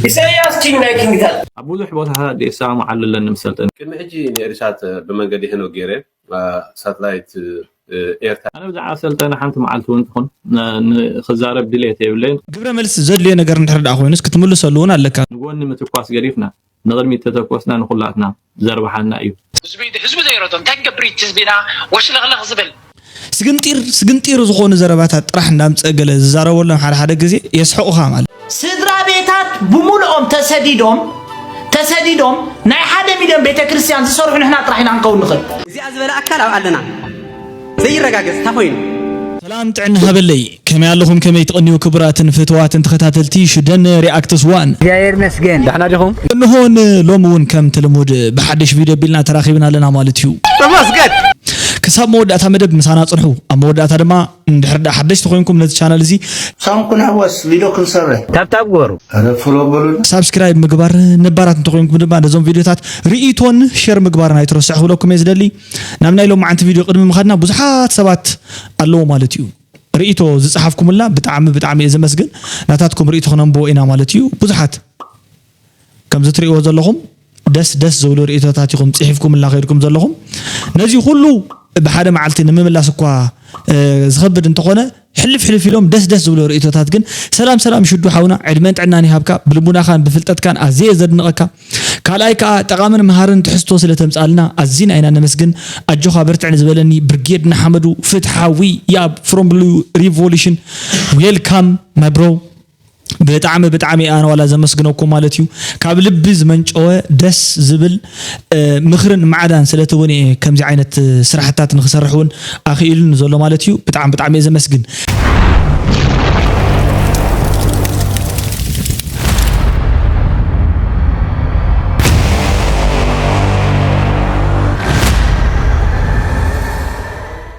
ኢሳያስ ኪንግ ናይ ኪንግታት ኣብ ብዙሕ ቦታታት የሰማምዓሉ ኣለኒ ምስ ሰልጠነ ቅድሚ ሕጂ ንኤሪሳት ብመንገዲ ሄኖክ ገይረ ሳትላይት ኤርትራ ኣነ ብዛዕባ ሰልጠነ ሓንቲ መዓልቲ እውን ትኹን ንክዛረብ ድሌት የብለይን ግብረ መልሲ ዘድልዮ ነገር እንድሕር ደኣ ኮይኑስ ክትምልሰሉ እውን ኣለካ። ንጎኒ ምትኳስ ገዲፍና ንቕድሚት ተተኮስና ንኹላትና ዘርብሓና እዩ። ህዝቢ ኢዱ ህዝቢ ዘይረቶ እንታይ ክገብር እዩ እቲ ህዝቢና ወሽለኽለኽ ዝብል። ስግንጢር ስግንጢር ዝኾኑ ዘረባታት ጥራሕ እንዳምጸ ገለ ዝዛረበሎም ሓደ ሓደ ግዜ የስሕቑኻ ማለት። ስድራቤታት ብሙሉኦም ተሰዲዶም ተሰዲዶም ናይ ሓደ ሚልዮን ቤተክርስትያን ዝሰርሑ ንሕና ጥራሕ ኢና ክንከውን ንኽእል። እዚኣ ዝበለ ኣካል ኣብ ኣለና። ዘይረጋገጽ ታኾይኑ። ሰላም ጥዕና ሃበለይ ከመይ ኣለኹም ከመይ ትቕንዩ ክቡራትን ፍትዋትን ተኸታተልቲ ሽደን ሪኣክትስ ዋን። እግዚኣብሔር ይመስገን ዳሕና ዲኹም። እንሆ ን ሎሚ ውን ከምቲ ልሙድ ብሓድሽ ቪድዮ ኣቢልና ተራኺብና ኣለና ማለት እዩ። ተመስገን! ክሳብ መወዳእታ መደብ ምሳና ጽንሑ። ኣብ መወዳእታ ድማ እንድሕር ድኣ ሓደሽቲ ኮይንኩም ነቲ ቻነል እዚ። ሳም ክንሕወስ ቪድዮ ክንሰርሕ። ታብታብ ግበሩ። ኣረ ፎሎ በሉና። ሳብስክራይብ ምግባር ነባራት እንተኾይንኩም ድማ ነዞም ቪድዮታት ሪኢቶን ሸር ምግባርን ኣይትረስዑ ክብለኩም እየ ዝደሊ። ናብ ናይ ሎማዓንቲ ቪድዮ ቅድሚ ምኻድና ብዙሓት ሰባት ኣለዉ ማለት እዩ ርእይቶ ዝጸሓፍኩምልና ብጣዕሚ ብጣዕሚ እየ ዘመስግን ናታትኩም ርእይቶ ክነንብቦ ኢና ማለት እዩ ብዙሓት ከምዚ ትርእይዎ ዘለኹም ደስ ደስ ዝብሉ ርእይቶታት ኢኹም ጽሒፍኩምልና ከይድኩም ዘለኹም ነዚ ኩሉ ብሓደ መዓልቲ ንምምላስ እኳ ዝኸብድ እንተኾነ ሕልፍ ሕልፍ ኢሎም ደስ ደስ ዝብሎ ርእይቶታት ግን ሰላም ሰላም ሽዱ ሓውና ዕድመን ጥዕናን ይሃብካ ብልቡናኻን ብፍልጠትካን ኣዝየ እየ ዘድንቐካ ካልኣይ ከኣ ጠቓምን መሃርን ትሕዝቶ ስለ ተምጽኣልና ኣዚና ኢና ነመስግን ኣጆኻ በርትዕ ንዝበለኒ ብርጌድ ንሓመዱ ፍትሓዊ ያብ ፍሮም ብሉ ሪቮሉሽን ዌልካም ማይ ብሮ ብጣዕሚ ብጣዕሚ ኣነ ዋላ ዘመስግነኩም ማለት እዩ ካብ ልቢ ዝመንጨወ ደስ ዝብል ምክርን ማዕዳን ስለቲ እውን እየ ከምዚ ዓይነት ስራሕታት ንክሰርሕ እውን ኣኽኢሉኒ ዘሎ ማለት እዩ ብጣዕሚ ብጣዕሚ እየ ዘመስግን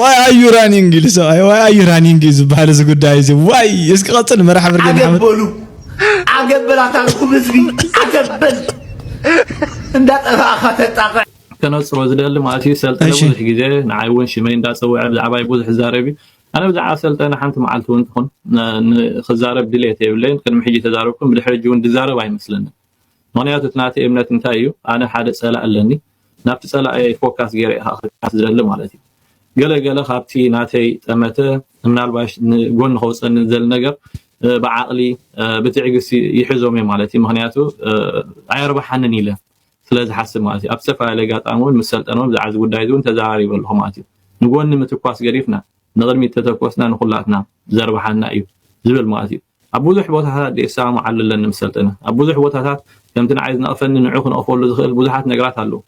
ዋይ ኣዩ ራኒንግ ኢሉ ሰብኣይ ዋይ ኣዩ ራኒንግ እዩ ዝበሃል እዚ ጉዳይ እዚ ዋይ እስኪ ቀፅል መራሒ ብርጌድ ሓመድ ኣገበሉ ኣገበል ኣታልኩም ህዝቢ ኣገበል እንዳጠፋእኻ ተጣቕዕ ከነጽሮ ዝደሊ ማለት እዩ ሰልጠነ እሺ። ብዙሕ ግዜ ንዓይ እውን ሽመይ እንዳጸውዐ ብዛዕባይ ብዙሕ ይዛረብ እዩ ኣነ ብዛዕባ ሰልጠነ ሓንቲ መዓልቲ እውን ትኹን ን- ን- ክዛረብ ድሌት የብለይን ቅድሚ ሕጂ ተዛረብኩም ብድሕሪ ሕጂ እውን ድዛረብ ኣይመስለንን ምክንያቱ እቲ ናተይ እምነት እንታይ እዩ ኣነ ሓደ ጸላኢ ኣለኒ ናብቲ ጸላኣየይ ፎካስ ጌረ ኢካ ክትቃስ ዝደሊ ማለት እዩ ገለ ገለ ካብቲ ናተይ ጠመተ ምናልባሽ ንጎኒ ከውጸኒ ዝደሊ ነገር ብዓቅሊ ብትዕግስቲ ይሕዞም እየ ማለት እዩ ምክንያቱ ኣየርባሓንን ኢለ ስለ ዝሓስብ ማለት እዩ ኣብ ዝተፈላለዩ ኣጋጣሚ እውን ምስ ሰልጠነ እውን ብዛዕባ እዚ ጉዳይ እዚ እውን ተዘራሪበ ኣለኹ ማለት እዩ ንጎኒ ምትኳስ ገዲፍና ንቅድሚት ተተኮስና ንኩላትና ዘርባሓና እዩ ዝብል ማለት እዩ ኣብ ብዙሕ ቦታታት ዘይሰማምዓሉ ኣለኒ ምስ ሰልጠነ። ኣብ ብዙሕ ቦታታት ከምቲ ንዓይ ዝነቕፈኒ ንዑ ክንቕፈሉ ዝኽእል ብዙሓት ነገራት ኣለዉ።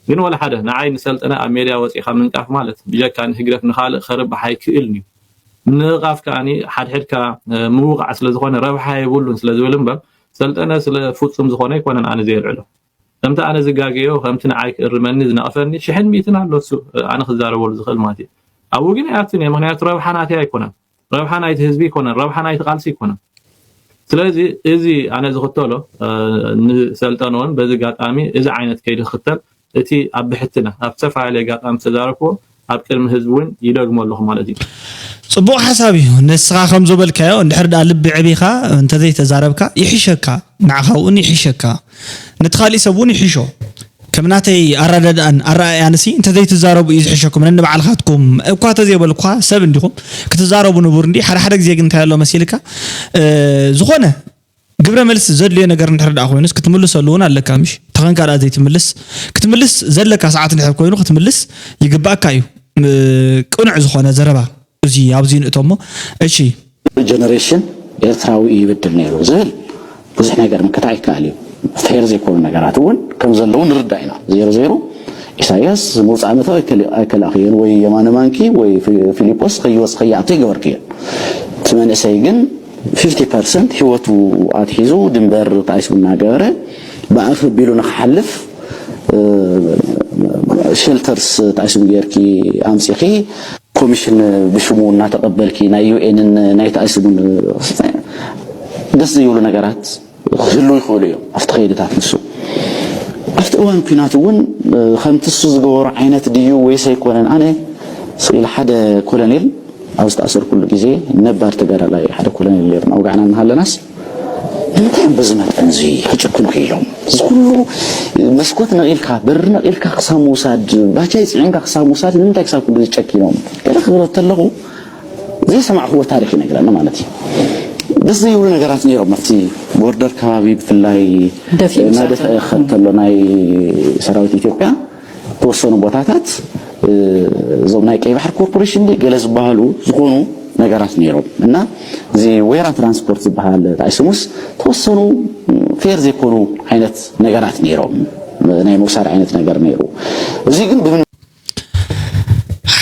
ግን ወላ ሓደ ንዓይ ንሰልጠነ ኣብ ሜድያ ወጺእካ ምንቃፍ ማለት ብጀካ ንህግደፍ ንኻልእ ከርብሕ ኣይክእልን'ዩ። ምንቕቓፍ ከኣ ሓድሕድካ ምውቓዕ ስለ ዝኾነ ረብሓ የብሉን ስለ ዝብል እምበር ሰልጠነ ስለ ፍጹም ዝኾነ ኣይኮነን ኣነ ዘየልዕሎ። ከምቲ ኣነ ዝጋገዮ ከምቲ ንዓይ ክእርመኒ ዝነቕፈኒ ሽሕን ሚእትን ኣሎ እሱ ኣነ ክዛረበሉ ዝኽእል ማለት'ዩ። ኣብኡ ግን ኣይኣቱን'የ ምኽንያቱ ረብሓ ናተይ ኣይኮነን። ረብሓ ናይቲ ህዝቢ ኣይኮነን ረብሓ ናይቲ ቃልሲ ኣይኮነን ስለዚ እዚ ኣነ ዝኽተሎ ንሰልጠንዎን በዚ ጋጣሚ እዚ ዓይነት ከይዲ ክኽተል እቲ ኣብ ብሕትና ኣብ ዝተፈላለየ ጋጣሚ ዝተዛረብክዎ ኣብ ቅድሚ ህዝቢ እውን ይደግሞ ኣለኹ ማለት እዩ። ጽቡቅ ሓሳብ እዩ ንስኻ ከምዞበልካዮ እንድሕር ድኣ ልቢ ዕቢኻ እንተዘይተዛረብካ ይሕሸካ ንዓኻ'ውን ይሕሸካ። ነቲ ካሊእ ሰብ ውን ይሕሾ ከም ናተይ ኣረዳድኣን ኣረኣእያንሲ እንተዘይትዛረቡ እዩ ዝሕሸኩም ነንባዕልካትኩም እኳ ተዘይበልኩካ ሰብ እንዲኹም ክትዛረቡ ንቡር እንዲ ሓደ ሓደ ግዜ ግን እንታይ ኣሎ መሲልካ ዝኾነ ግብረ መልሲ ዘድልዮ ነገር እንድሕር ደኣ ኮይኑስ ክትምልሰሉ እውን ኣለካ ምሽ ተኸንካ ደኣ ዘይትምልስ ክትምልስ ዘለካ ሰዓት እንድሕር ኮይኑ ክትምልስ ይግባእካ እዩ ቅኑዕ ዝኾነ ዘረባ እዚ ኣብዚ ንእቶ እሞ እሺ። ጀነሬሽን ኤርትራዊ እዩ ይብድል ነይሩ ዝብል ብዙሕ ነገር ምክታዕ ይከኣል እዩ። ፌር ዘይኮኑ ነገራት እውን ከም ዘለዉ ንርዳእ ኢና። ዜሮ ዜሩ ኢሳያስ ዝመውጽኣ መእተዊ ኣይከል ኣይከላእክዮን ወይ የማነ ማንኪ ወይ ፊ ፊሊጶስ ከይወጽ ከይኣቱ ኣይገበርክዮን። እቲ መንእሰይ ግን ፊፍቲ ፐርሰንት ህይወቱ ኣትሒዙ ድንበር ጣይሱ እናገበረ ብኣፍ ኣቢሉ ንኽሓልፍ ሸልተርስ ጣይሱን ጌርኪ ኣምጺኺ ኮሚሽን ብሽሙ እናተቐበልኪ ናይ ዩኤንን ናይቲ ኣይስብን ደስ ዘይብሉ ነገራት ክህልው ይኽእሉ እዮም ኣብቲ ከይድታት ንሱ ኣብቲ እዋን ኩናት እውን ከምቲ እሱ ዝገበሮ ዓይነት ድዩ ወይስ ኣይኮነን ኣነ ስኢል ሓደ ኮሎኔል ኣብ ዝተኣሰርኩሉ ግዜ ነባር ተጋዳላይ ሓደ ኮሎኔል ነይሩ ናውጋዕና እናሃለናስ ንምንታይ እዮም በዚ መጠን እዚ ክጭክኑ ክኢሎም? እዚ ኩሉ መስኮት ነቒልካ፣ በሪ ነቒልካ ክሳብ ምውሳድ፣ ባጃይ ጽዒንካ ክሳብ ምውሳድ ንምንታይ ክሳብ ክንድዚ ጨኪኖም? ገለ ክብሎ እንተለኹ ዘይሰማዕክዎ ታሪኽ ይነግረኒ ማለት እዩ። ደስ ዘይብሉ ነገራት ነይሮም ኣብቲ ቦርደር ከባቢ ብፍላይ ደፊኡ ምስ ኣተወ እናደፍአ ክኸድ ከሎ ናይ ሰራዊት ኢትዮጵያ ዝተወሰኑ ቦታታት እዞም ናይ ቀይ ባሕር ኮርፖሬሽን ዲ ገለ ዝበሃሉ ዝኾኑ ነገራት ነይሮም እና እዚ ወይራ ትራንስፖርት ዝበሃል ራእይ ስሙስ ተወሰኑ ፌር ዘይኮኑ ዓይነት ነገራት ነይሮም ናይ ምውሳድ ዓይነት ነገር ነይሩ እዚ ግን ብምን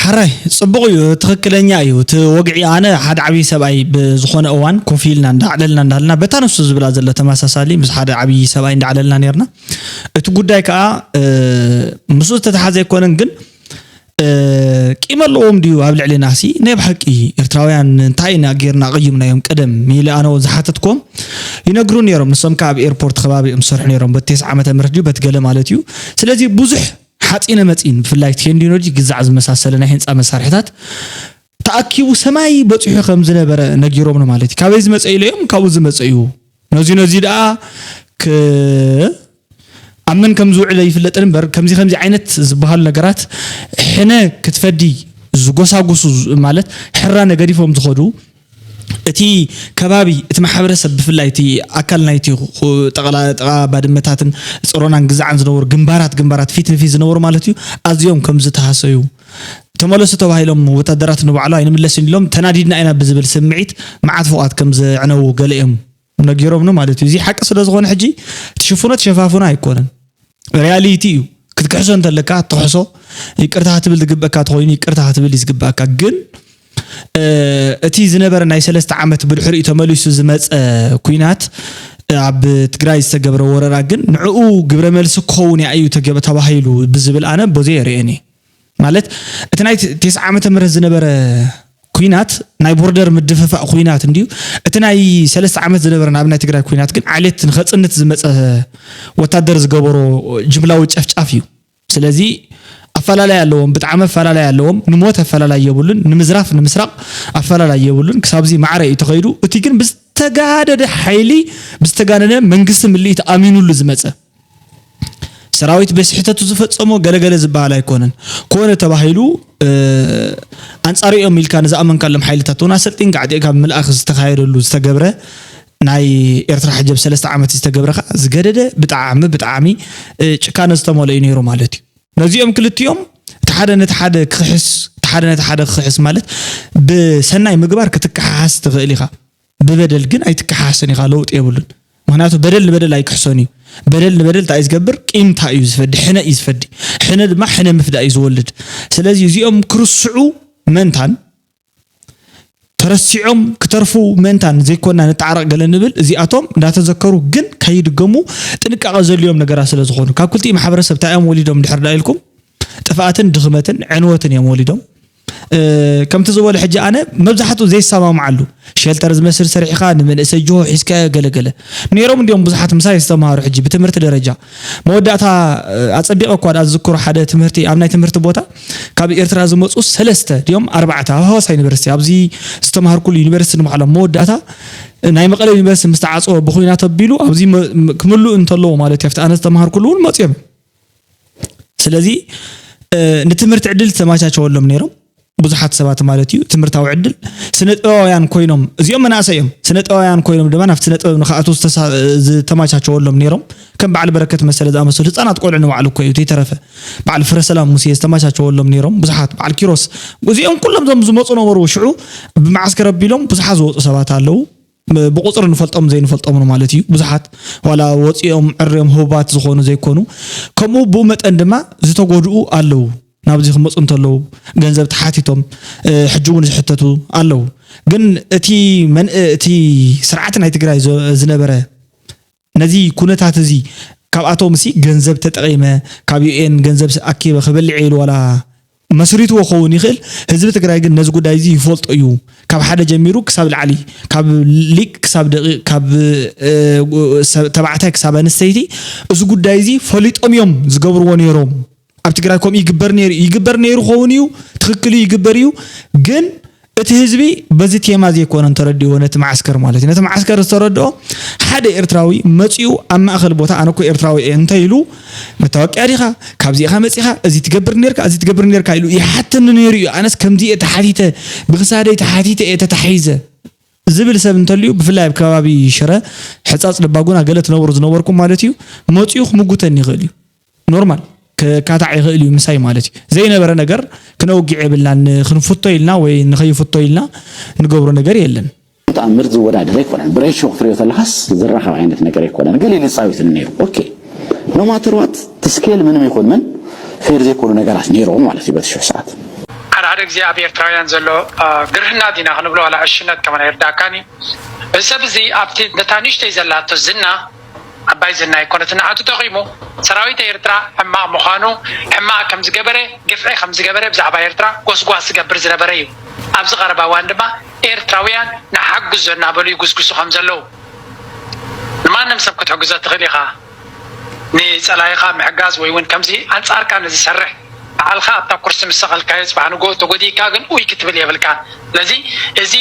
ሕራይ ጽቡቕ እዩ ትኽክለኛ እዩ እቲ ወግዒ ኣነ ሓደ ዓብዪ ሰብኣይ ብዝኾነ እዋን ኮፍ ኢልና እንዳዕለልና እንዳሃልና በታ ንሱ ዝብላ ዘሎ ተመሳሳሊ ምስ ሓደ ዓብዪ ሰብኣይ እንዳዕለልና ነርና እቲ ጉዳይ ከኣ ምስኡ ዝተተሓዘ ኣይኮነን ግን ቂም ኣለዎም ድዩ ኣብ ልዕሊናሲ ናይ ብሓቂ ኤርትራውያን እንታይ ኢና ጌርና ቀይምናዮም ቀደም ኢለ ኣነ እውን ዝሓተትኮም ይነግሩ ነይሮም ንሶም ከዓ ኣብ ኤርፖርት ከባቢ እዮም ዝሰርሑ ነይሮም በቲ ቴስዓ ዓመተ ምህረት ድዩ በቲ ገለ ማለት እዩ ስለዚ ብዙሕ ሓፂነ መፂን ብፍላይ ቴንዲኖሎጂ ግዛዕ ዝመሳሰለ ናይ ህንፃ መሳርሕታት ተኣኪቡ ሰማይ በጺሑ ከም ዝነበረ ነጊሮምኒ ማለት እዩ። ካበይ ዝመጸ ኢለዮም ካብኡ ዝመጸ እዩ። ነዙይ ነዙይ ደኣ ክ ኣብ መን ከም ዝውዕል ኣይፍለጥን እምበር ከምዚ ከምዚ ዓይነት ዝበሃሉ ነገራት ሕነ ክትፈዲ ዝጎሳጉሱ ማለት ሕራ ነገዲፎም ዝኸዱ እቲ ከባቢ እቲ ማሕበረሰብ ብፍላይ እቲ ኣካል ናይቲ ጠቕላ ጥቓ ባድመታትን ፅሮናን ግዛዕን ዝነበሩ ግንባራት ግንባራት ፊት ንፊት ዝነበሩ ማለት እዩ ኣዝዮም ከም ዝተሃሰዩ ተመለሱ ተባሂሎም ወታደራት ንባዕሉ ኣይንምለስን ኢሎም ተናዲድና ኢና ብዝብል ስምዒት መዓት ፎቓት ከም ዘዕነዉ ገለ'ዮም ነጊሮምኒ ማለት'ዩ። እዚ ሓቂ ስለ ዝኾነ ሕጂ ትሽፍኖ ትሸፋፍኖ ኣይኮነን ሪያሊቲ እዩ። ክትክሕሶ እንተለካ ትኽሕሶ ይቅርታ ክትብል ዝግበኣካ ተኾይኑ ይቅርታ ክትብል እዩ ዝግበኣካ ግን እቲ ዝነበረ ናይ ሰለስተ ዓመት ብድሕሪኡ ተመሊሱ ዝመፀ ኲናት ኣብ ትግራይ ዝተገብረ ወረራ ግን ንዕኡ ግብረ መልሲ ክኸውን ያእዩ ተገ ተባሂሉ ብዝብል ኣነ ቦዘይ የርእየን እየ ማለት እቲ ናይ ቴስዓ ዓመተ ምህረት ዝነበረ ኩናት ናይ ቦርደር ምድፍፋእ ኩናት እንድዩ እቲ ናይ ሰለስተ ዓመት ዝነበረ ናብ ናይ ትግራይ ኩናት ግን ዓሌት ንኸፅንት ዝመፀ ወታደር ዝገበሮ ጅምላዊ ጨፍጫፍ እዩ ስለዚ ኣፈላላይ ኣለዎም ብጣዕሚ ኣፈላላይ ኣለዎም ንሞት ኣፈላላይ የብሉን ንምዝራፍ ንምስራቅ ኣፈላላይ የብሉን ክሳብዚ ማዕረ እዩ ተኸይዱ እቲ ግን ብዝተጋደደ ሓይሊ ብዝተጋነነ መንግስቲ ምልኢት ኣሚኑሉ ዝመፀ ሰራዊት በስሕተቱ ዝፈፀሞ ገለገለ ዝበሃል ኣይኮነን ኮነ ተባሂሉ ኣንፃሪኦም ኢልካ ንዝኣመንካሎም ሓይልታት እውን ኣሰልጢን ጋዕጢዕካ ብምልኣኽ ዝተኻየደሉ ዝተገብረ ናይ ኤርትራ ሕጂ ኣብ ሰለስተ ዓመት ዝተገብረ ከኣ ዝገደደ ብጣዕሚ ብጣዕሚ ጭካነ ዝተመልኦ እዩ ነይሩ ማለት እዩ። ነዚኦም ክልቲኦም እቲ ሓደ ነቲ ሓደ ክኽሕስ እቲ ሓደ ነቲ ሓደ ክኽሕስ ማለት ብሰናይ ምግባር ክትከሓሓስ ትኽእል ኢኻ፣ ብበደል ግን ኣይትከሓሓስን ኢኻ ለውጢ የብሉን። ምክንያቱ በደል ንበደል ኣይክሕሶን እዩ በደል ንበደል እንታይ እዩ ዝገብር ቂምታ እዩ ዝፈዲ ሕነ እዩ ዝፈዲ ሕነ ድማ ሕነ ምፍዳእ እዩ ዝወልድ ስለዚ እዚኦም ክርስዑ መንታን ተረሲዖም ክተርፉ ምእንታን ዘይኮና ንተዓረቕ ገለ ንብል እዚኣቶም እንዳተዘከሩ ግን ከይድገሙ ጥንቃቐ ዘድልዮም ነገራት ስለ ዝኾኑ ካብ ክልቲኡ ማሕበረሰብ እንታይ እዮም ወሊዶም ድሕር ዳ ኢልኩም ጥፍኣትን ድኽመትን ዕንወትን እዮም ወሊዶም ከምቲ ዝበሎ ሕጂ ኣነ መብዛሕትኡ ዘይሰማምዓሉ ሸልተር ዝመስል ሰሪሕኻ ንመንእሰይ ጅሆ ሒዝካዮ ገለገለ ነይሮም እንዲኦም ብዙሓት ምሳይ ዝተምሃሩ ሕጂ ብትምህርቲ ደረጃ መወዳእታ ኣጸቢቐ እኳ ድኣ ዝዝክሮ ሓደ ትምህርቲ ኣብ ናይ ትምህርቲ ቦታ ካብ ኤርትራ ዝመጹ ሰለስተ ድዮም ኣርባዕተ ኣብ ሃዋሳ ዩኒቨርሲቲ ኣብዚ ዝተማሃርኩሉ ዩኒቨርሲቲ ንባዕሎም መወዳእታ ናይ መቐለ ዩኒቨርሲቲ ምስ ተዓጸወ ብኹናት ኣቢሉ ኣብዚ ክምልኡ እንተለዎ ማለት እዩ ኣብቲ ኣነ ዝተማሃርኩሉ እውን መጽዮም ስለዚ ንትምህርቲ ዕድል ዝተመቻቸወሎም ነይሮም ብዙሓት ሰባት ማለት እዩ ትምህርታዊ ዕድል ስነ ጥበባውያን ኮይኖም እዚኦም መናእሰይ እዮም ስነ ጥበባውያን ኮይኖም ድማ ናብቲ ስነ ጥበብ ንክኣትዉ ዝተመቻቸወሎም ነይሮም ከም በዓል በረከት መሰለ ዝኣመሰሉ ህፃናት ቆልዑ ንባዕሉ እኮ እዩ ዘይተረፈ በዓል ፍረ ሰላም ሙሴ ዝተመቻቸወሎም ነይሮም ብዙሓት በዓል ኪሮስ እዚኦም ኩሎም ዞም ዝመፁ ነበሩ ሽዑ ብመዓስከር ኣቢሎም ብዙሓት ዝወፁ ሰባት ኣለዉ ብቁፅሪ ንፈልጦምን ዘይንፈልጦምን ማለት እዩ ብዙሓት ዋላ ወፂኦም ዕርዮም ህቡባት ዝኾኑ ዘይኮኑ ከምኡ ብኡ መጠን ድማ ዝተጎድኡ ኣለዉ ናብዚ ክመፁ እንተለዉ ገንዘብ ተሓቲቶም ሕጂ እውን ዝሕተቱ ኣለዉ ግን እቲ እቲ ስርዓት ናይ ትግራይ ዝነበረ ነዚ ኩነታት እዚ ካብኣቶም ሲ ገንዘብ ተጠቂመ ካብ ዩኤን ገንዘብ ኣኪበ ክበልዕ እየ ኢሉ ዋላ መስሪትዎ ክኸውን ይኽእል ህዝቢ ትግራይ ግን ነዚ ጉዳይ እዚ ይፈልጦ እዩ ካብ ሓደ ጀሚሩ ክሳብ ላዕሊ ካብ ሊቅ ክሳብ ደቂቅ ካብ ተባዕታይ ክሳብ ኣንስተይቲ እዚ ጉዳይ እዚ ፈሊጦም እዮም ዝገብርዎ ነይሮም ኣብ ትግራይ ከምኡ ይግበር ነይሩ እዩ ይግበር ነይሩ ኸውን እዩ ትክክል እዩ ይግበር እዩ ግን እቲ ህዝቢ በዚ ቴማ ዘይኮነ ተረዲዎ ነቲ መዓስከር ማለት እዩ ነቲ መዓስከር ዝተረድኦ ሓደ ኤርትራዊ መፂኡ ኣብ ማእኸል ቦታ ኣነ እኮ ኤርትራዊ እየ እንተ ኢሉ መታወቂያ ዲኻ ካብዚ ኢኻ መፂኻ እዚ ትገብር ነርካ እዚ ትገብር ነርካ ኢሉ ይሓተኒ ነይሩ እዩ ኣነስ ከምዚ እየ ተሓቲተ ብክሳደይ ተሓቲተ እየ ተታሒዘ ዝብል ሰብ እንተልዩ ብፍላይ ኣብ ከባቢ ሽረ ሕፃፅ ልባጉና ገለ ትነብሩ ዝነበርኩም ማለት እዩ መፂኡ ክምጉተኒ ይኽእል እዩ ኖርማል ክካታዕ ይኽእል እዩ ምሳይ ማለት እዩ ዘይነበረ ነገር ክነውግዕ የብልናን ንክንፍቶ ኢልና ወይ ንከይፍቶ ኢልና ንገብሮ ነገር የለን። ተኣምር ዝወዳደር ኣይኮነን ብሬሾ ክትሪኦ ተለኻስ ዝራኸብ ዓይነት ነገር ኣይኮነን ገሊኡ ይጻወትኒ ነይሩ ኦኬ ኖ ማተር ዋት እቲ ስኬል ምንም ይኹን ምን ፌር ዘይኮኑ ነገራት ነይሮም ማለት እዩ በቲ ሽሕ ሰዓት። ሓደ ሓደ ግዜ ኣብ ኤርትራውያን ዘሎ ግርህና ዲና ክንብሎ ዋላ ዕሽነት ከማን ኣይርድኣካን እዩ። እዚ ሰብ እዚ ኣብቲ ነታ ንእሽተይ ዘላቶ ዝና ዓባይ ዝና ኣይኮነትን ንዓቱ ጠቂሙ ሰራዊት ኤርትራ ሕማቅ ምኳኑ ሕማቅ ከም ዝገበረ ግፍዒ ከም ዝገበረ ብዛዕባ ኤርትራ ጎስጓስ ዝገብር ዝነበረ እዩ ኣብዚ ቀረባ እዋን ድማ ኤርትራውያን ንሓግዞ እናበሉ ይጉስጉሱ ከም ዘለዉ ንማንም ሰብ ክትሕግዞ ትክእል ኢካ ንጸላኢካ ምሕጋዝ ወይ ውን ከምዚ ኣንጻርካ ንዝሰርሕ ባዕልካ ኣብታ ኩርሲ ምስ ሰቀልካዮ ጽባሕ ንግሆ ተጎዲእካ ግን ኡይ ክትብል የብልካን ስለዚ እዚ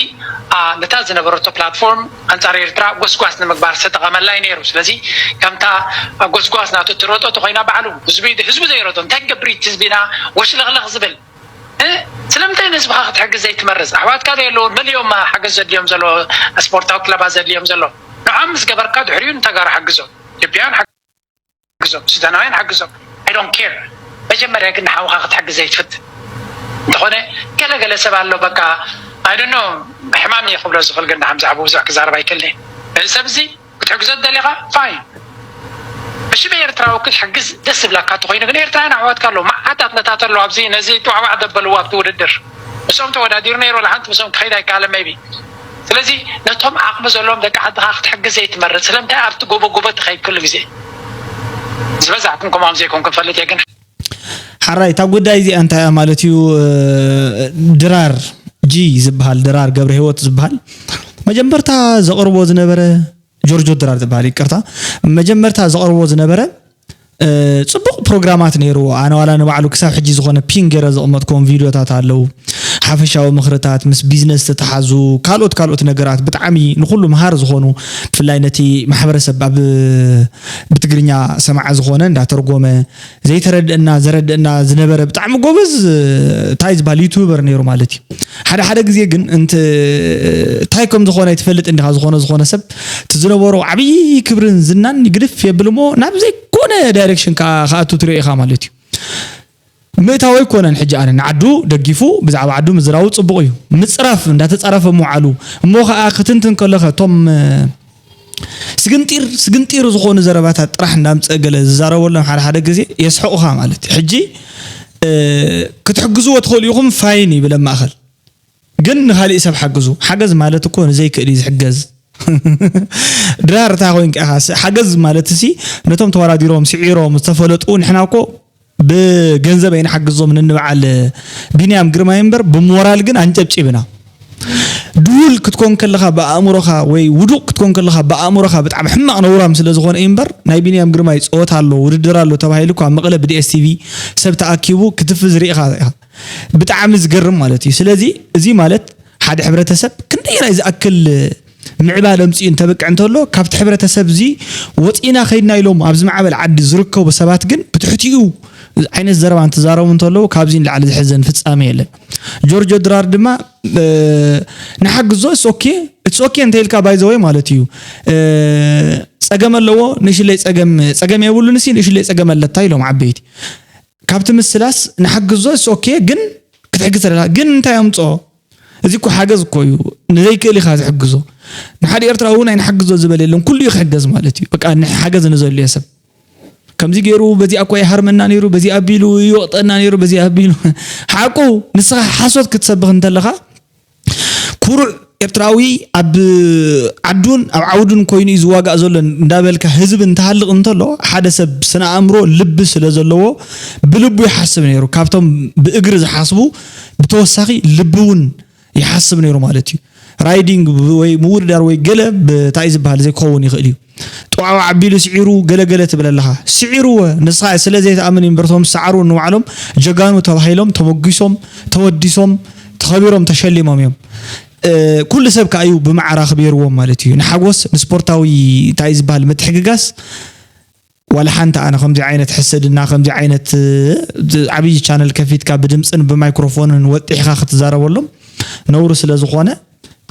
ነታ ዝነበረቶ ፕላትፎርም ኣንጻር ኤርትራ ጎስጓስ ንምግባር ዝተጠቐመላ እዩ ነይሩ። ስለዚ ከምታ ኣብ ጎስጓስ ናቱ እትሮጦ ተኾይና ባዕሉ ህዝቢ ህዝቡ ዘይረቶ እንታይ ክገብር እዩ እቲ ህዝቢና ወሽለኽለኽ ዝብል እ ስለምንታይ ንህዝብኻ ክትሕግዝ ዘይትመርጽ ኣሕዋትካ ዘየለዉ መሊኦም ሓገዝ ዘድልዮም ዘሎ ስፖርታዊ ክለባት ዘድልዮም ዘሎ ንዖም ምስ ገበርካ ድሕሪኡ ንተጋሩ ሓግዞም ኢትዮጵያውያን ግዞም ሱዳናውያን ሓግዞም I don't care መጀመርያ ግን ንሓውካ ክትሕግዝ ዘይትፍትን እንተኮነ ገለ ገለ ሰብ ኣሎ በቃ I don't know ሕማም እየ ክብሎ ዝክል ግን ንሓምዚ ሓቡ ብዙሕ ክዛረብ ኣይክእልን እየ እዚ ሰብ እዚ ክትሕግዞ ደሊካ fine ብሽም ኤርትራዊ ክትሕግዝ ደስ ዝብላካ እንተኮይኑ ግን ኤርትራውያን ኣሕዋትካ ኣለዉ መዓት ኣትለታት ኣለዉ ኣብዚ ነዚ ጧዕባዕ ዘበልዎ ኣብቲ ውድድር ምስኦም ተወዳዲሩ ነይሩ ወላ ሓንቲ ምስኦም ክከይድ ኣይከኣለን maybe ስለዚ ነቶም ዓቅሚ ዘለዎም ደቂ ዓድካ ክትሕግዝ ዘይትመርጽ ስለምንታይ ኣብቲ ጎቦ ጎቦ ትከይድ ኩሉ ግዜ ዝበዛሕኩም ከማኦም ዘይኮንኩም ይፈልጥ እየ ግን ሐራይ እታ ጉዳይ እዚኣ እንታይ እያ ማለት እዩ ድራር ጂ ዝበሃል ድራር ገብረሂወት ዝበሃል መጀመርታ ዘቅርቦ ዝነበረ ጆርጆ ድራር ዝበሃል ይቅርታ መጀመርታ ዘቅርቦ ዝነበረ ፅቡቅ ፕሮግራማት ነይርዎ ኣነ ዋላ ንባዕሉ ክሳብ ሕጂ ዝኾነ ፒን ገይረ ዘቕመጥክዎም ቪድዮታት ኣለው ሓፈሻዊ ምኽርታት ምስ ቢዝነስ ዝተተሓዙ ካልኦት ካልኦት ነገራት ብጣዕሚ ንኹሉ መሃር ዝኾኑ ብፍላይ ነቲ ማሕበረሰብ ኣብ ብትግርኛ ሰማዕ ዝኾነ እንዳተርጎመ ዘይተረድአና ዘረድአና ዝነበረ ብጣዕሚ ጎበዝ እንታይ ዝበሃል ዩቱበር ነይሩ ማለት እዩ ሓደ ሓደ ግዜ ግን እንታይ ከም ዝኾነ ኣይትፈልጥን ዲኻ ዝኾነ ዝኾነ ሰብ እቲ ዝነበሮ ዓብዪ ክብርን ዝናን ግድፍ የብል እሞ ናብ ዘይኮነ ዳይሬክሽን ከዓ ክኣቱ ትሪኦ ኢኻ ማለት እዩ። ምእታው ኣይኮነን ሕጂ ኣነ ንዓዱ ደጊፉ ብዛዕባ ዓዱ ምዝራቡ ጽቡቕ እዩ። ምጽራፍ እንዳተጻረፈ ምውዓሉ እሞ ከዓ ክትንትን ከሎኸ እቶም ስግንጢር ስግንጢር ዝኾኑ ዘረባታት ጥራሕ እንዳምጸ ገለ ዝዛረበሎም ሓደ ሓደ ግዜ የስሕቑኻ ማለት እዩ። ሕጂ ክትሕግዝዎ ትኽእሉ ኢኹም ፋይን ይብል ኣብ ማእኸል። ግን ንካሊእ ሰብ ሓግዙ ሓገዝ ማለት እኮ ንዘይክእል እዩ ዝሕገዝ ድራር እታ ኮይንካ ኢኻ ሓገዝ ማለት ሲ ነቶም ተወዳዲሮም ስዒሮም ዝተፈለጡ ንሕና እኮ ብገንዘብ ኣይንሓግዞም ንንበዓል ቢንያም ግርማይ እምበር ብሞራል ግን ኣንጨብጪብና ድሁል ክትኮን ከለኻ ብኣእምሮኻ ወይ ውዱቕ ክትኮን ከለኻ ብኣእምሮኻ ብጣዕሚ ሕማቕ ነውራም ስለ ዝኾነ እዩ እምበር ናይ ቢንያም ግርማይ ፀወታ ኣሎ ውድድር ኣሎ ተባሂሉ እኳ መቐለ ብዲኤስቲቪ ሰብ ተኣኪቡ ክትፍዝ ርኢኻ ኢኻ ብጣዕሚ ዝገርም ማለት እዩ ስለዚ እዚ ማለት ሓደ ሕብረተሰብ ክንደየናይ ዝኣክል ምዕባለ ኣምፂኡ እንተብቅዕ እንተሎ ካብቲ ሕብረተሰብ እዚ ወፂእና ከይድና ኢሎም ኣብ ዝማዕበል ዓዲ ዝርከቡ ሰባት ግን ብትሕቲኡ ዓይነት ዘረባ እንትዛረቡ እንተለዉ ካብዚ ንላዕሊ ዝሕዘን ፍፃሜ የለን ጆርጆ ድራር ድማ ንሓግዞ እስ ኦኬ እስ ኦኬ እንተይልካ ባይዘወይ ማለት እዩ ፀገም ኣለዎ ንእሽለይ ፀገም ፀገም የብሉንሲ ንእሽለይ ፀገም ኣለታ ኢሎም ዓበይቲ ካብቲ ምስላስ ንሓግዞ እስ ኦኬ ግን ክትሕግዝ ተደላ ግን እንታይ ኣምጾ እዚ እኮ ሓገዝ እኮ እዩ ንዘይክእል ኢኻ ዝሕግዞ ንሓደ ኤርትራዊ እውን ኣይንሓግዞ ዝበለ የለን ኩሉ እዩ ክሕገዝ ማለት እዩ በቃ ሓገዝ ንዘልዮ ሰብ ከምዚ ገይሩ በዚኣ እኳ ይሃርመና ነይሩ በዚ ኣቢሉ ይወቕጠና ነይሩ በዚ ኣቢሉ ሓቁ ንስኻ ሓሶት ክትሰብኽ እንተለኻ ኩሩዕ ኤርትራዊ ኣብ ዓዱን ኣብ ዓውዱን ኮይኑ እዩ ዝዋጋእ ዘሎ እንዳበልካ ህዝቢ እንትሃልቕ እንተሎ ሓደ ሰብ ስነ ኣእምሮ ልቢ ስለ ዘለዎ ብልቡ ይሓስብ ነይሩ ካብቶም ብእግሪ ዝሓስቡ ብተወሳኺ ልቢ እውን ይሓስብ ነይሩ ማለት እዩ ራይዲንግ ወይ ምውድዳር ወይ ገለ እንታይ እዩ ዝበሃል ዘይክኸውን ይኽእል እዩ ጧዕዋዕ ኣቢሉ ስዒሩ ገለ ገለ ትብል ኣለኻ ስዒርወ ንስኻ ስለ ዘይትኣምን እዩ እምበር እቶም ዝሰዓሩ ንባዕሎም ጀጋኑ ተባሂሎም ተሞጊሶም ተወዲሶም ተኸቢሮም ተሸሊሞም እዮም ኩሉ ሰብ ከኣ እዩ ብማዕረ ኣኽቢርዎም ማለት እዩ ንሓጎስ ንስፖርታዊ እንታይ እዩ ዝበሃል ምትሕግጋስ ዋላ ሓንቲ ኣነ ከምዚ ዓይነት ሕስድና ከምዚ ዓይነት ዓብይ ቻነል ከፊትካ ብድምፅን ብማይክሮፎንን ወጢሕካ ክትዛረበሎም ነውሪ ስለ ዝኾነ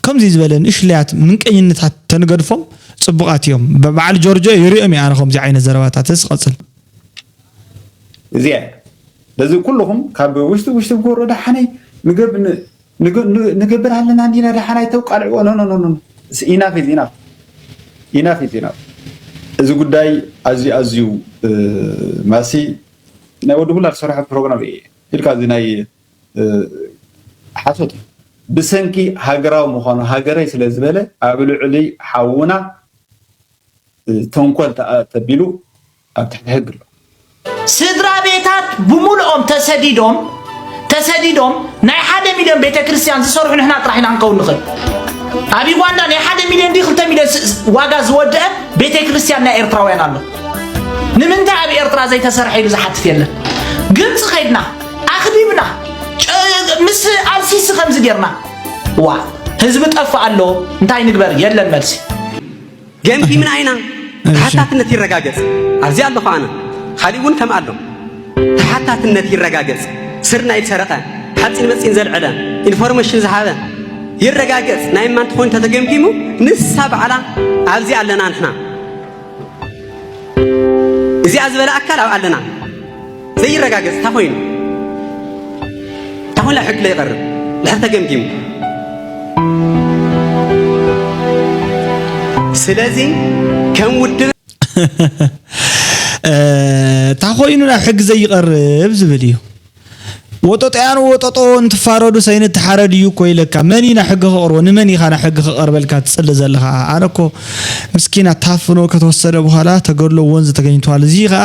ከምዚ ዝበለ ንእሽለያት ምንቀኝነታት ተንገድፎም ፅቡቃት እዮም በዓል ጆርጆ ይሪኦም እየ ኣነ ከምዚ ዓይነት ዘረባታትስ ቀፅል እዚኣ በዚ ኩልኹም ካብ ውሽጢ ውሽጢ ጎሮ ደሓነይ ንገብ ንገብር ኣለና እንዲና ደሓን ኣይተቃልዕዎ ኖኖኖኖ ኢናፍ ኢዝ ኢናፍ ኢናፍ ኢዝ ኢናፍ እዚ ጉዳይ ኣዝዩ ኣዝዩ ማሲ ናይ ወዲ ሙላ ዝሰርሖ ፕሮግራም እዩ ኢልካ እዚ ናይ ሓሶት እዩ ብሰንኪ ሃገራዊ ምዃኑ ሃገረይ ስለ ዝበለ ኣብ ልዕሊ ሓውና ተንኮል ተቢሉ ኣብ ትሕቲ ሕጊ ኣሎ። ስድራ ቤታት ብሙሉኦም ተሰዲዶም ተሰዲዶም ናይ ሓደ ሚልዮን ቤተ ክርስቲያን ዝሰርሑ ንሕና ጥራሕ ኢና ክንከውን ንኽእል ኣብ ዩጋንዳ ናይ ሓደ ሚልዮን ድዩ ክልተ ሚልዮን ስ- ዋጋ ዝወደአ ቤተ ክርስቲያን ናይ ኤርትራውያን ኣሎ ንምንታይ ኣብ ኤርትራ ዘይተሰርሐ ኢሉ ዝሓትት የለን ግብፂ ከይድና ኣኽቢብና ጨ- ምስ ኣልሲሲ ከምዚ ጌርና ዋ ህዝቢ ጠፋእ ኣሎ እንታይ ንግበር የለን መልሲ ገምጊምና ኢና ተሓታትነት ይረጋገጽ ኣብዚ ኣለኹ ኣነ ካሊእ እውን ከም ኣሎ ተሓታትነት ይረጋገጽ ስርናይ ዝሰረቐ ሓፂን መፂን ዘልዐለ ኢንፎርሜሽን ዝሃበ ይረጋገጽ ናይ እማ እንትኾን ተተገምጊሙ ንሳ በዓላ ኣብዚ ኣለና ንሕና እዚኣ ዝበለ ኣካል ኣብ ኣለና ዘይረጋገጽ እንተ ኾይኑ እንተ ኾይኑ ኣብ ሕጊ ለይቐርብ ድሕር ተገምጊሙ ስለዚ ከም ውድብ እንተ ኾይኑ ናብ ሕጊ ዘይቐርብ ዝብል እዩ ወጠጦያን ወጠጦ እንትፋረዱ ሰይኒ ተሓረድ እዩ እኮ ኢለካ መን እዩ ናብ ሕጊ ከቕርቦ ንመን ኢኻ ናብ ሕጊ ከቐርበልካ ትፅሊ ዘለኻ ኣነ እኮ ምስኪና ታፍኖ ከተወሰደ በኋላ ተገድሎ ወንዝ ተገኝቷል እዚ ከዓ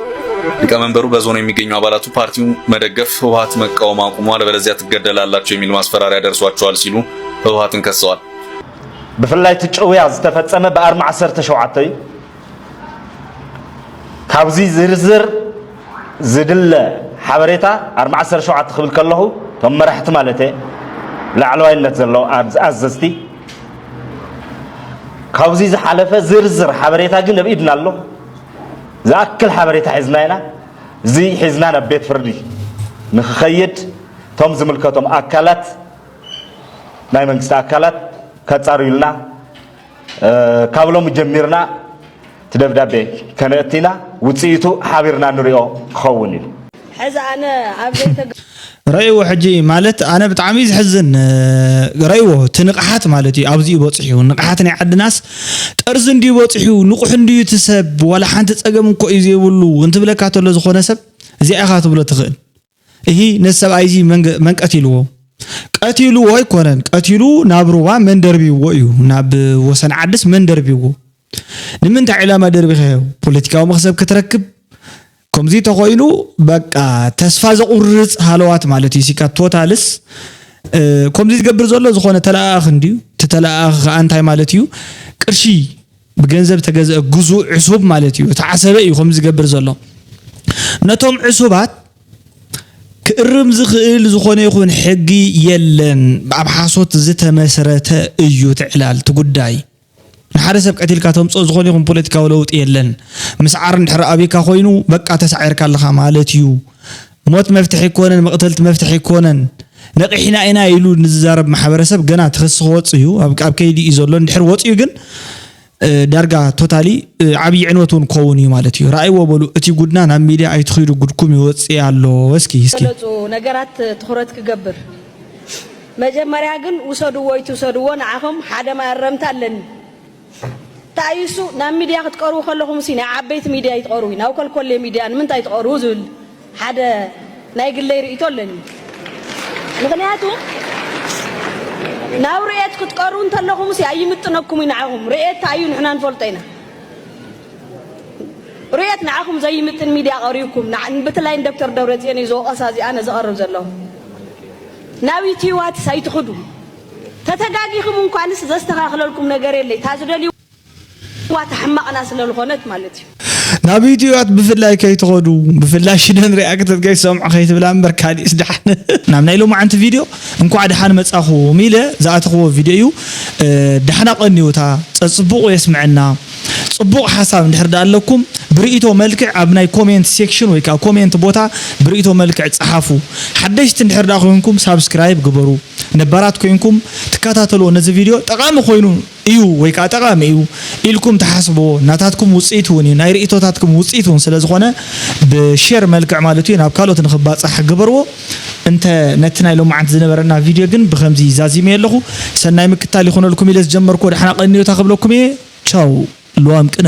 ሊቀመንበሩ በዞኑ የሚገኙ አባላቱ ፓርቲው መደገፍ ህወሀት መቃወም አቁሙ አለበለዚያ ትገደላላችሁ የሚል ማስፈራሪያ ደርሷቸዋል ሲሉ ህወሀትን ከሰዋል። ብፍላይ እቲ ጭውያ ዝተፈፀመ ብኣርሚ ዓሰርተ ሸውዓተ እዩ ካብዚ ዝርዝር ዝድለ ሓበሬታ ኣርሚ ዓሰርተ ሸውዓተ ክብል ከለኹ እቶም መራሕቲ ማለት እየ ላዕለዋይነት ዘለዉ ኣዘዝቲ ካብዚ ዝሓለፈ ዝርዝር ሓበሬታ ግን ኣብ ኢድና ኣሎ ዝኣክል ሓበሬታ ሒዝና ኢና፣ እዚ ሒዝና ናብ ቤት ፍርዲ ንክኸይድ እቶም ዝምልከቶም ኣካላት ናይ መንግስቲ ኣካላት ከፃርዩልና ካብ ሎሚ ጀሚርና እቲ ደብዳቤ ከነእቲ ኢና፣ ውፅኢቱ ሓቢርና ንሪኦ ክኸውን ኢዩ። ሐዚ ኣነ ኣብ ዘይተ። ረእይዎ ሕጂ ማለት ኣነ ብጣዕሚ እዩ ዝሕዝን ረእይዎ እቲ ንቕሓት ማለት እዩ ኣብዚኡ በፂሑ ንቕሓት ናይ ዓድናስ ጠርዚ እንድዩ በፂሑ ንቑሕ እንድዩ እቲ ሰብ ዋላ ሓንቲ ፀገም እንኮ እዩ ዘይብሉ እንትብለካ ተሎ ዝኾነ ሰብ እዚኣ ኢኻ ትብሎ ትኽእል እሂ ነዚ ሰብኣይ እዚ መን ቀቲልዎ ቀቲልዎ ኣይኮነን ቀቲሉ ናብ ሩባ መን ደርቢዎ እዩ ናብ ወሰን ዓድስ መን ደርቢዎ ንምንታይ ዕላማ ደርቢኸዮ ፖለቲካዊ መኽሰብ ክትረክብ ኮምዚ ተኮይኑ በቃ ተስፋ ዘቁርጽ ሃለዋት ማለት እዩ ሲካ ቶታልስ ኮምዚ ዝገብር ዘሎ ዝኮነ ተለኣኣኽ እንድዩ እቲ ተለኣኣኽ ከኣ እንታይ ማለት እዩ ቅርሺ ብገንዘብ ተገዝአ ግዙእ ዕሱብ ማለት እዩ እቲ ዓሰበ እዩ ኮምዚ ዝገብር ዘሎ ነቶም ዕሱባት ክእርም ዝኽእል ዝኾነ ይኹን ሕጊ የለን ኣብ ሓሶት ዝተመስረተ እዩ ትዕላል ትጉዳይ ንሓደ ሰብ ቀቲልካ ተምጽኦ ዝኾነ ይኹን ፖለቲካዊ ለውጢ የለን። ምስዓር እንድሕር ኣብካ ኮይኑ በቃ ተሳዒርካ ኣለኻ ማለት እዩ። ሞት መፍትሒ ኣይኮነን መቅተልቲ መፍትሒ ኣይኮነን። ነቂሕና ኢና ኢሉ ንዝዛረብ ማሕበረሰብ ገና እቲ ክሲ ክወጽእ እዩ ኣብ ኣብ ከይዲ እዩ ዘሎ እንድሕር ወጽዩ ግን ዳርጋ ቶታሊ ዓብዪ ዕንወት እውን ክኸውን እዩ ማለት እዩ። ራእይዎ በሉ እቲ ጉድና ናብ ሚድያ ኣይትኺዱ ጉድኩም ይወጽእ ኣሎ እስኪ እስኪ ገለጹ ነገራት ትኹረት ክገብር መጀመርያ ግን ውሰድዎ ኣይትውሰድዎ ንዓኹም ሓደ መኣረምታ ኣለኒ ታይ እዩ እሱ ናብ ሚድያ ክትቀርቡ ከለኹም ሲ ናይ ዓበይቲ ሚድያ ኣይትቀርቡ ናብ ኮልኮሌ ሚድያ ንምንታይ ትቀርቡ ዝብል ሓደ ናይ ግለይ ርእይቶ ኣለኒ ምክንያቱ ናብ ርኤት ክትቀርቡ እንተለኹም ሲ ኣይምጥነኩም እዩ ንዓኹም ርኤት ታይ እዩ ንሕና ንፈልጦ ኢና ሩየት ንዓኹም ዘይምጥን ሚድያ ቀሪብኩም ንዓ ብትላይ ንደክተር ደብረፅዮን እዩ ዝወቐሳ እዚኣ ነዘቐርብ ዘለኹ ናብ ዩቲዋትስ ኣይትኽዱ ተተጋጊኹም እንኳንስ ዘስተኻኽለልኩም ነገር የለይ እታ ዝደልዩ ዋት ኣሕማቕና ስለልኾነት ማለት እዩ። ናብ ዩቲዋት ብፍላይ ከይትኸዱ ብፍላይ ሽደን ሪኣክተት ከይትሰምዑ ከይትብላ እምበር ካሊእስ ድሓን። ናብ ናይ ሎማዓንቲ ቪድዮ እንኳዕ ድሓን መፃኹም ኢለ ዝኣተኽዎ ቪድዮ እዩ ድሓን ኣቐንዩ እታ ፀፅቡቑ የስመዐና። ጽቡቕ ሓሳብ እንድሕር ድኣ ኣለኩም ብርእይቶ መልክዕ ኣብ ናይ ኮሜንት ሴክሽን ወይ ከኣ ኮሜንት ቦታ ብርእይቶ መልክዕ ጽሓፉ። ሓደሽቲ እንድሕር ድኣ ኮንኩም ሳብስክራይብ ግበሩ። ነባራት ኮንኩም ትከታተልዎ ነዚ ቪድዮ ጠቓሚ ኮይኑ እዩ ወይ ከኣ ጠቓሚ እዩ ኢልኩም ትሓስብዎ ናታትኩም ውጽኢት እውን እዩ ናይ ርእይቶታትኩም ውጽኢት እውን ስለ ዝኾነ ብሼር መልክዕ ማለት እዩ ናብ ካልኦት ንኽባጻሕ ግበርዎ። እንተ ነቲ ናይ ሎማዓንቲ ዝነበረና ቪድዮ ግን ብከምዚ ዛዚመዮ ኣለኩ ሰናይ ምክታል ይኩነልኩም ኢለ ዝጀመርክዎ ዳሕና ቀንዮታ ክብለኩም እየ ቻው ልዋም ቅነ።